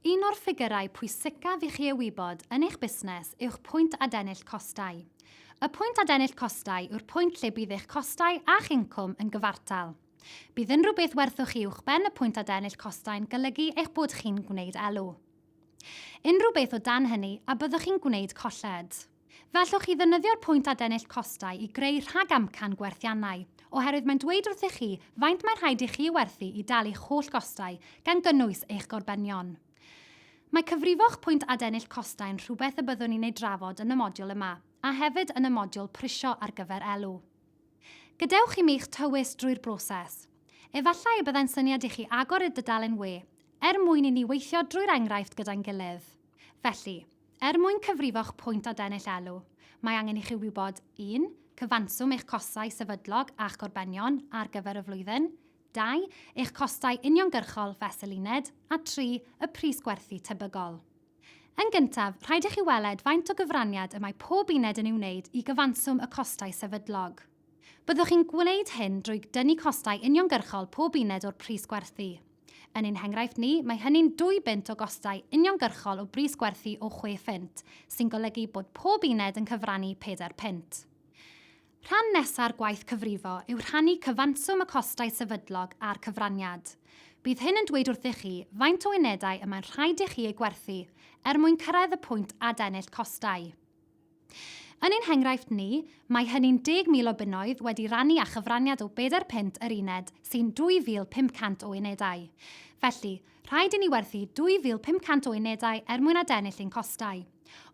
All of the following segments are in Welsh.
Un o'r ffigyrau pwysicaf i chi ei wybod yn eich busnes yw'ch pwynt adennill costau. Y pwynt adennill costau yw'r pwynt lle bydd eich costau a'ch incwm yn gyfartal. Bydd unrhyw beth werthwch chi uwchben y pwynt adennill costau'n golygu eich bod chi'n gwneud elw. Unrhyw beth o dan hynny a byddwch chi'n gwneud colled. Gallwch chi ddefnyddio'r pwynt adennill costau i greu rhagamcan gwerthiannau, oherwydd mae'n dweud wrthych chi faint mae'n rhaid i chi werthu i dalu eich holl gostau, gan gynnwys eich gorbenion. Mae cyfrifo'ch pwynt adennill costau yn rhywbeth y byddwn ni'n ei drafod yn y modiwl yma, a hefyd yn y modiwl Prisio ar gyfer Elw. Gadewch i mi eich tywys drwy'r broses. Efallai y byddai'n syniad i chi agor y dudalen we, er mwyn i ni weithio drwy'r enghraifft gyda'n gilydd. Felly, er mwyn cyfrifo'ch pwynt o dennill elw, mae angen i chi wybod, 1, cyfanswm eich costau sefydlog a'ch gorbenion ar gyfer y flwyddyn, 2, eich costau uniongyrchol fesul uned, a 3, y pris gwerthu tebygol. Yn gyntaf, rhaid i chi weled faint o gyfraniad y mae pob uned yn ei wneud i gyfanswm y costau sefydlog. Byddwch chi'n gwneud hyn drwy dynnu costau uniongyrchol pob uned o'r pris gwerthu. Yn ein henghraifft ni, mae hynny'n dwy bunt o gostau uniongyrchol o bris gwerthu o chwe phunt, sy'n golygu bod pob uned yn cyfrannu pedair punt. Rhan nesa'r gwaith cyfrifo yw rhannu cyfanswm y costau sefydlog a'r cyfraniad. Bydd hyn yn dweud wrthych chi faint o unedau y mae'n rhaid i chi eu gwerthu er mwyn cyrraedd y pwynt adennill costau. Yn ein henghraifft ni, mae hynny'n 10,000 o bunnoedd wedi rannu â chyfraniad o bedair punt yr uned, sy'n 2,500 o unedau. Felly, rhaid i ni werthu 2,500 o unedau er mwyn adennill ein costau.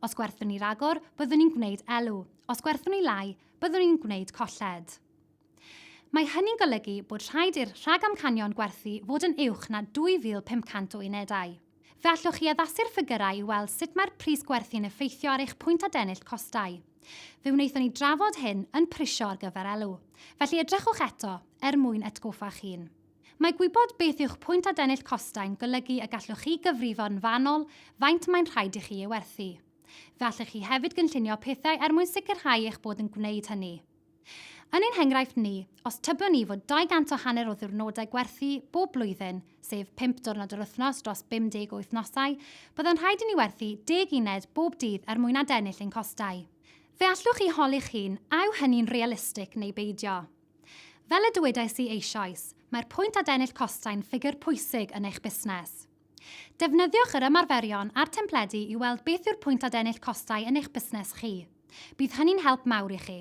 Os gwerthwn ni ragor, byddwn ni'n gwneud elw. Os gwerthwn ni lai, byddwn ni'n gwneud colled. Mae hynny'n golygu bod rhaid i'r rhagamcanion gwerthu fod yn uwch na 2,500 o unedau. Fe allwch chi addasu'r ffigyrau i weld sut mae'r pris gwerthu'n effeithio ar eich pwynt adennill costau. Fe wnaethon ni drafod hyn yn Prisio ar gyfer Elw, felly edrychwch eto er mwyn atgoffa'r hun. Mae gwybod beth yw'ch pwynt adennill costau'n golygu y gallwch chi gyfrifo'n fanwl faint mae'n rhaid i chi ei werthu. Fe allwch chi hefyd gynllunio pethau er mwyn sicrhau eich bod yn gwneud hynny. Yn ein henghraifft ni, os tybiwn ni fod 200 o hanner o ddiwrnodau gwerthu bob blwyddyn, sef pump diwrnod yr wythnos dros 50 o wythnosau, byddai'n rhaid i ni werthu deg uned bob dydd er mwyn adennill ein costau. Fe allwch chi holi'ch hun a yw hynny'n realistig neu beidio. Fel y dywedais i eisoes, mae'r pwynt adennill costau'n ffigur pwysig yn eich busnes. Defnyddiwch yr ymarferion a'r templedi i weld beth yw'r pwynt adennill costau yn eich busnes chi. Bydd hynny'n help mawr i chi.